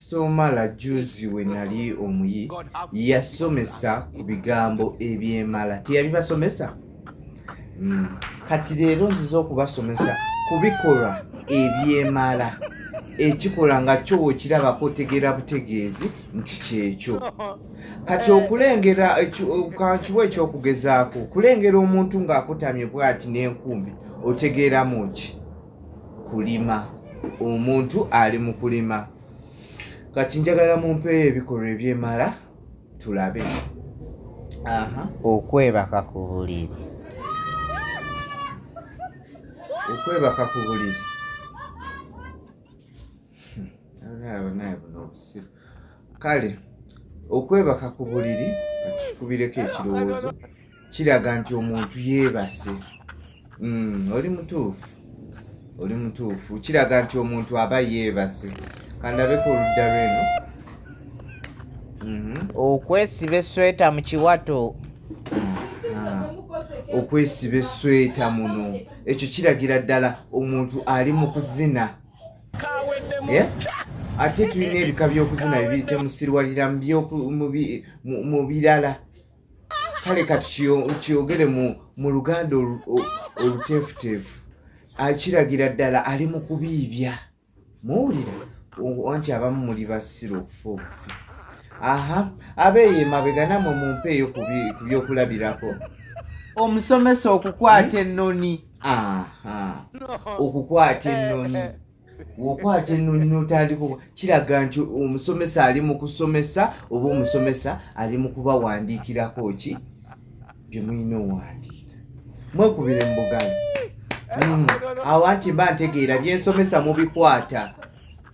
Somala juzi we nali omuyi yasomesa ku bigambo ebyemala teyabibasomesa hmm. kati leero nziza okubasomesa ku bikolwa ebyemala ekikola nga kyo wekirabako otegeera butegeezi nti kyekyo kati eh. okulengera kankiwa ekyokugezaako okulengera omuntu ng'akutamye bwati n'enkumbi otegeeramu ki kulima omuntu ali mu kulima kati njagala mumpeeyo ebikolwa ebyemala tulabe okwebaka ku buliri okwebaka ku buliri kale okwebaka ku buliri katukikubireko ekirowoozo kiraga nti omuntu yeebase hmm, oli mutuufu oli mutuufu kiraga nti omuntu aba yeebase kandabeko oludda lweno mhm. okwesiba esweta mu kiwato okwesiba esweta muno ekyo kiragira ddala omuntu ali mu kuzina yeah? ate tulina ebika by'okuzina bibiri temusirwalira mu birala kale kati kyogere mu luganda oluteefuteefu akiragira ddala ali mu kubiibya muwulira anti abamu muli basira okufa obufi aha abeeyo emabega namwe mumpeeyo ku byokulabirako omusomesa okukwata ennoni okukwata ennoni wokwata ennoni notandika kiraga nti omusomesa ali mu kusomesa oba omusomesa ali mu kubawandiikirako ki bye mulina owandiika mwekubire mu buganda hmm. awo anti mba ntegeera byensomesa mubikwata